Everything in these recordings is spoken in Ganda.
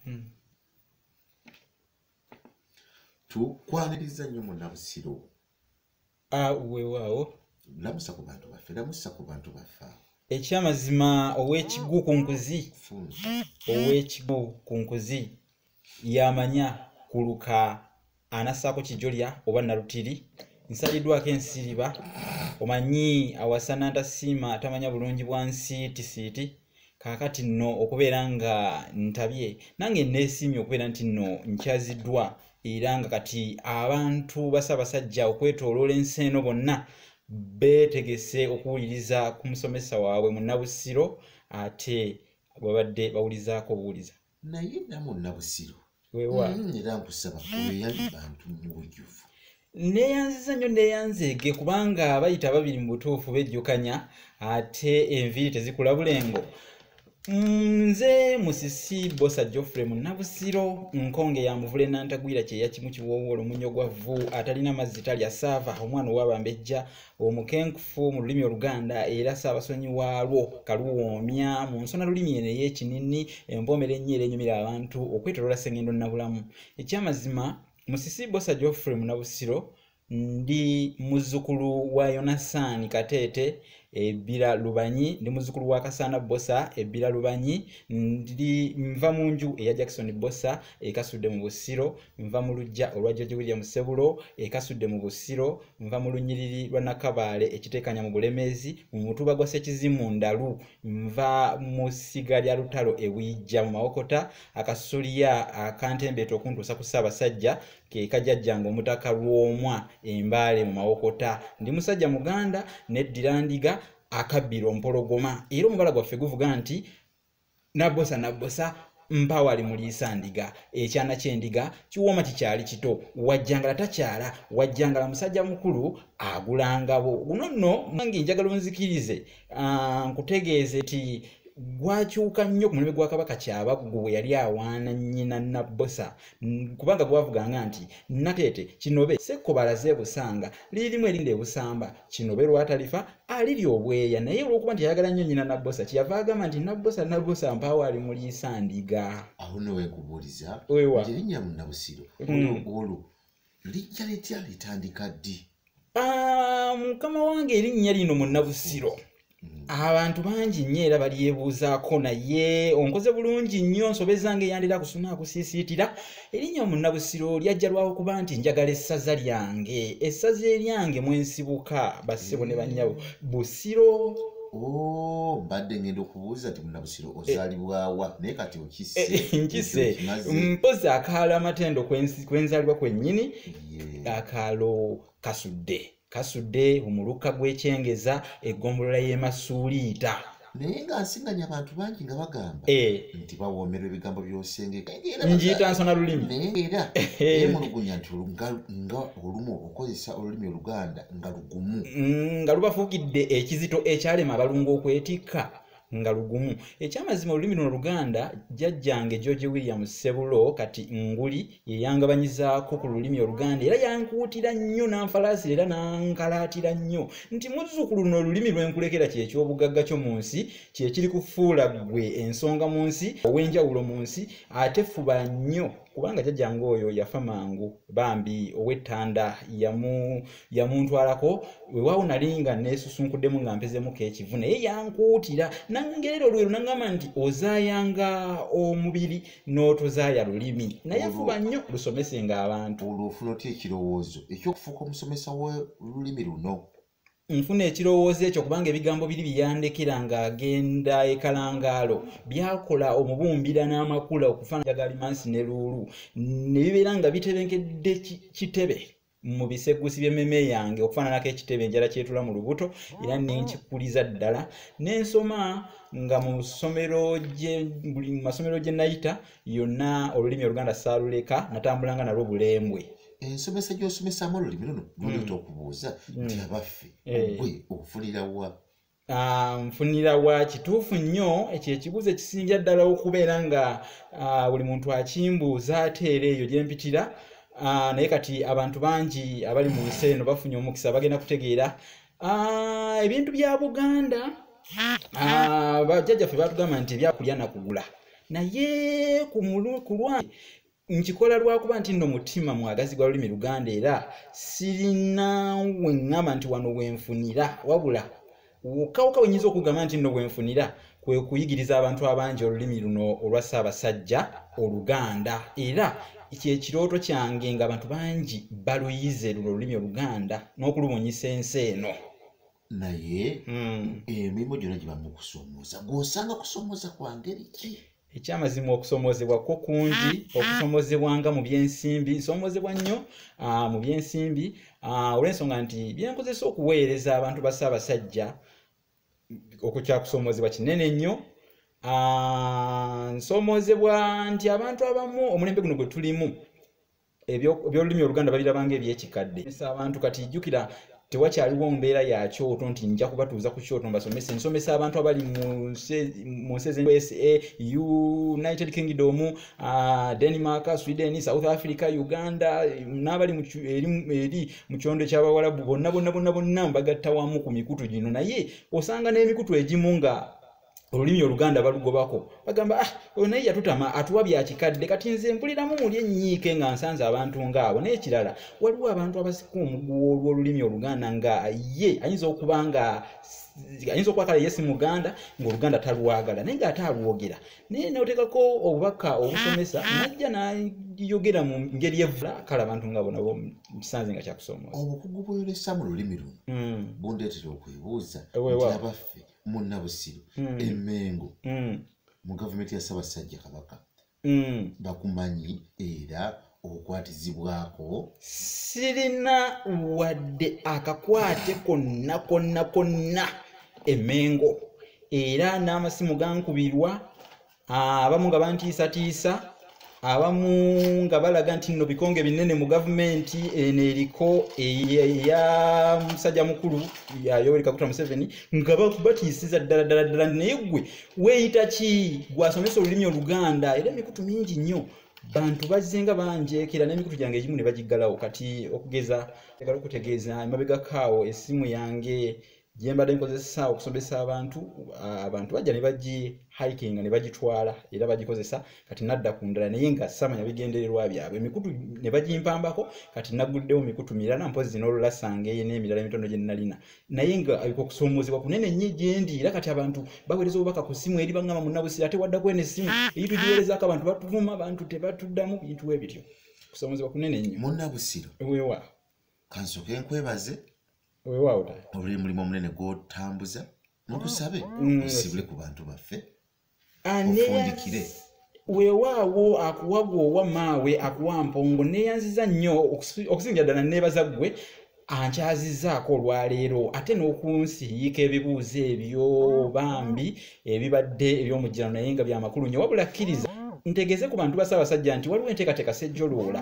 hmm. tukwaniriza nnyo munabusiro ah, wewaawo lamusa ku bantu baffe lamusa ku bantu baffe awo ekyamazima ow'ekigu ku nkuzi ow'ekigu ku nkuzi yamanya kuluka anassaako kijolya oba nalutiri nsaliddwako ensiriba omanyi awasa nantasiima tamanya bulungi bwa nsi tisiiti kaakati nno okubeera nga ntabye nange neesiimye okubeera nti nno nkyaziddwa era nga kati abantu basabasajja okwetoloola ensi eno bonna beetegese okuwuliriza ku musomesa waabwe munabusiro ate bwebabadde bawulizaako obuwuliza naye namu nabusiru wewa mm, era nkusaba weyali bantu mu bujjuvu neyanziza nnyo neyanzeege kubanga bayita babiri mu butuufu bejjukanya ate enviiri tezikula bulengo nze musisi bosa geoffrey munabusiro nkonge ya muvule nantagwira kyeya kimu kiwowoola omunyo gwa vvu atalina mazzi talya saava omwana owabambejja omukenkufu mu lulimi oluganda era saabasonyi waalwo kaluwoomya mu nsona lulimi eno ey'ekinini empoomera ennyo era enyumira abantu okwetolola sengendo nabulamu ekyamazima musisi bosa geoffrey munabusiro ndi muzzukulu wa yonasaani kateete ebbira lubanyi ndi muzzukulu wa kasaana bosa ebbira lubanyi ndi nva mu nju eya jackson bosa ekasudde mu busiro nva mu lujja olwa george william sebulo ekasudde mu busiro nva mu lunyiriri lwa nakabaale ekiteekanya mu bulemeezi mu mutuba gwa sekizimu ndalu nva mu ssiga lya lutalo ewijja mu mawokota akasulya akantembeeta okuntuusa ku ssaabasajja kekajajjanga omutaka lwomwa embaale mu mawokota ndi musajja muganda neddirandiga akabbiro mpologoma era omubala gwaffe guvuga nti nabbosa nabbosa mpawali muliisa ndiga ekyana kyendiga kiwooma kikyali kito wajjangala takyala wajjangala musajja mukulu agulangabo guno nno mange njagala onzikirize ah, nkutegeeze ti gwakyuka nnyo ku mulembe gwa kabaka kyabaggu bwe yali awaana nnyina nabbosa kubanga gwavuganga nti nateete kinobe sekko balaze ebusanga lirimu erinda ebusamba kino be lwatalifa alirya obweya naye olwokuba nti ayagala nnyo nyina nabbosa kyeyava agamba nti nabbosa nabbosa mpaawo ali muliisa ndiga awo newekubuuliza erinnya munabusiro olugulu hmm. lijja litya litandika ddi ah, mukama wange erinnya lino munabusiro Mm. abantu bangi nnyo era balyebuuzaako naye onkoze bulungi nnyo nsobe zange yandira kusuna akusiisiitira erinnya omunabusiro lyajja lwawo kuba nti njagala essaza lyange essaza eryange mwensibuka bassebo ne bannyabo mm. busiro Oh, mbadde ngenda okubuuza nti munabusiro eh. ozalibwawa naye kati okisenkise eh, eh, mpozi akaalo amatendo kwenzalibwa kwennyini akaalo kasudde kasudde omuluka gw'ekyengeza eggombolola y'e masuuliita naye nga nsiŋanya abantu bangi nga bagamba eh. nti bawoomerwa ebigambo byosengeknjiyita nsona lulimi naye era emulugunya nti nga olumu okozesa olulimi oluganda nga lugumu mm, nga lubafuukidde ekizito ekyalema abalungu okwetikka nga lugumu ekyamazima olulimi luno luganda jjajjange george william ssebulo kati nguli yeyangabanyizaako ku lulimi oluganda era yankuutira nnyo nanfalaasira era nankalaatira nnyo nti muzzukulu luno olulimi lwenkulekera kyekyobugagga kyo mu nsi kyekiri kufuula gwe ensonga mu nsi ow'enjawulo mu nsi ate fuba nnyo kubanga jajjange oyo yafa mangu bambi ow'ettanda yamu yamuntwalako wewawo nali nga nesusunkuddemu nga mpezemuko ekivu naye yankuutira nangerera olwero nangamba nti ozayanga omubiri n'otozaya lulimi naye fuba nnyo lusomesenga abantu olwo ofuna otya ekirowoozo ekyokufuuka omusomesa w'olulimi luno nfuna ekirowoozo ekyo kubanga ebigambo biri byeyandekera ng'agenda ekalangaalo byakola omubumbira n'amakula okufaanagalimansi ne luulu ne bibeera nga bitebenkedde kitebe mu bisegusi by'emmeeme yange okufaananako ekitebe enjala kyetula mu lubuto era ne nkikuliza ddala n'ensoma nga mu ssomero buli mu masomero gye nayita yonna olulimi oluganda saaluleka natambulanga nalwo bulembwe ensomesa gy'osomesamu olulimi luno luleta mm. okubuuza mm. nti abaffe eh. ogwe ofunirawa Ah, nfunira wa kituufu nnyo ekyo ekibuuzo ekisingira ddala okubeera nga ah, buli muntu akimbuuza ate era eyo gyempitira ah, naye kati abantu bangi abali mu nsi eno bafunye omukisa bagenda kutegeera ebintu bya buganda bajjajjaffe batugamba nti ebyakulya nakugula naye ku lwange nkikola lwakuba nti nno mutima mwagazi gwa lulimi luganda era sirina weŋŋamba nti wano wenfunira wabula wokawuka wenyinza okugamba nti nno wenfunira kwe kuyigiriza abantu abangi olulimi luno olwa ssaabasajja oluganda era kyekirooto kyange nga abantu bangi baluyize luno olulimi oluganda n'okulubunyisa ensi eno naye mm. emirimu gyona giba mu kusomooza gwosanga kusomooza kwa ngeri ki ekyamazima okusomoozebwa kwo kungi ah, ah. okusomoozebwanga mu byensimbi nsomoozebwa nnyo ah, mu byensimbi olw'ensonga nti byenkozesa okuweereza abantu ba ssaabasajja okukyakusomoozebwa kinene nnyo nsomoozebwa nti abantu abamu omulembe guno gwe tulimu ebyolulimi oluganda balirabanga ebyekikadde abantu kati ijjukira tewakyaliwo mbeera ya kyoto nti nja kubatuuza ku kyoto mbasomese nsomesa abantu abali mu nsi ezusa united kingdom uh, denmark sweden south africa uganda n'abali eri mu kyondo ekyabawalabu bonna bonna bonna bonna mbagatta wamu ku mikutu gino naye osanga n'emikutu egimu nga olulimi oluganda balugobako bagamba ah oyo naye yatutama atuwa byakikadde kati nze mpuliramu muli ennyiike nga nsanze abantu ngaabo n'ekirala waliwo abantu abasika omuguwa olw'olulimi oluganda nga ye ayinza okuba nga ayinza okuba kale yesi muganda ngaoluganda talwagala naye ngaate alwogera naye notekako obubaka obusomesa ah, ah. najja nayogera mu ngeri evula kale abantu nga bona kisanze nga kyakusomooza obukugu bweyolesa mu lulimi luno hmm. bundeetera okwebuuza abaffe munabusiro mm. emengo mm. mu gavumenti ya ssabasajja kabaka mm. bakumanyi era okukwatizibwako sirina wadde akakwate konna konna konna emengo era n'amasimu gankubirwa ah, abamu nga bantiisatiisa abamu nga balaga nti nno bikonge binene mu gavumenti eno eriko eya musajja mukulu yoweri kaguta museveni nga batiisiza ddala ddala ddala naye gwe weeyita ki gwasomesa olulimi oluganda era emikutu mingi nnyo bantu bazzenga banjeekera n'emikutu gyange egimu ne bagiggalawo kati okugeza egala okutegeeza emabegakaawo essimu yange gyembadde nkozesa okusomesa abantu abantu bajja ne bagi hikinga ne bagitwala era bagikozesa kati nadda ku ndala naye nga samanya bigendererwa byabwe emikutu ne bagimpambako kati naguddewo mikutu mirala mpozi n'olulasanga eye n'emirala emitondo gye nnalina naye nga abika okusoomoozebwa kunene nnyo gyendi era kati abantu baweereza obubaka ku ssimu eri baŋŋama munnabusire ate waddako eno essimu eyitugiweerezaako abantu batuvuma abantu tebatuddamu bintu ebityo kusoomoozebwa kunene nnyo munnabusiro wewa kansoke nkwebaze olw'e mulimu omunene gw'otambuza mukusabe mm. osibule ku bantu baffe ofundikire weewaawo akuwa gwowa maawe akuwa mpongo neeyanziza nnyo okusingira ddala neebaza ggwe ankyazizaako olwaleero ate n'okunsiyiika ebibuuzo ebyo bambi ebibadde eby'omujjano naye nga byamakulu nyo wabula kkiriza ntegeze ku bantu basaabasajja nti waliwo enteekateeka sejjoloola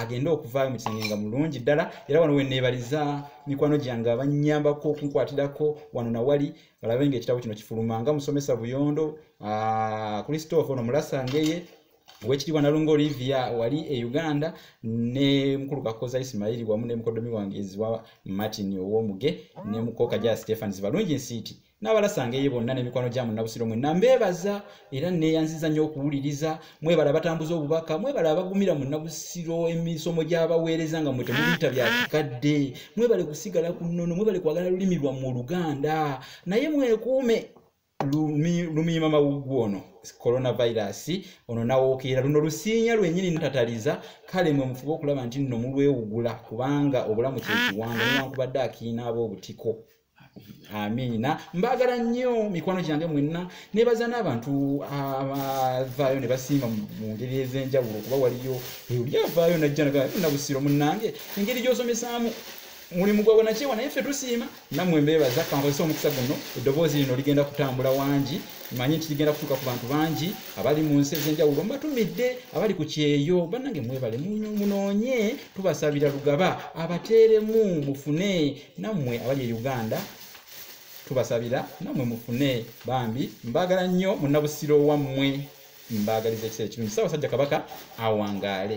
agende okuvaayo mu kisenge nga mulungi ddala era wano weneebaliza mikwano gyange abannyambako okunkwatirako wano nawali balabe nga ekitabo kino kifuluma nga musomesa buyondo christophe ono mulasangeye owekitiibwa nalunga olivia wali e uganda ne mukulu kakoza isimairi wamu ne mukodomi wange ziwa martin owomuge ne mukoka ja stephans balungi nsiiti n'abalasanga eye bonna n'emikwano gya munnabusiro mwenna mbeebaza era neeyanziza nnyo okuwuliriza mwebala abatambuza obubaka mwebala abagumira munnabusiro emisomo gy'abaweereza nga mwe temubiyita bya kikadde mwebale kusigala ku nnono mwebale kwagala lulimi lwammwe oluganda naye mwekuume lumiima mawuggu ono coronavirus ono nawokeera luno lusiinya lwenyini ntataliza kale mwe mufube okulaba nti nno mulwewugula kubanga obulamu kyekiwanga newankubadde akiina aba obutiko amiina mbaagala nnyo mikwano gyange mwenna nebaza n'abantu abavaayo ne basiima mu ngeri ez'enjawulo okuba waliyo oli avaayo najja nabusiro munnange engeri gy'osomesaamu mulimu gwabwe nakyewa naye ffe tusiima nammwe mbeebaza kankozesa omukisa guno eddoboozi lino ligenda kutambula wangi manye nti ligenda kutuuka ku bantu bangi abali mu nsi ez'enjawulo mbatumidde abali ku kyeyo bannange mwebale munoonye tubasabira lugaba abateeremu mufune nammwe abali e uganda tubasabira nammwe mufune bambi mbaagala nnyo munabusiro wammwe mbaagaliza ekiseera ekirungi saabasajja kabaka awangaale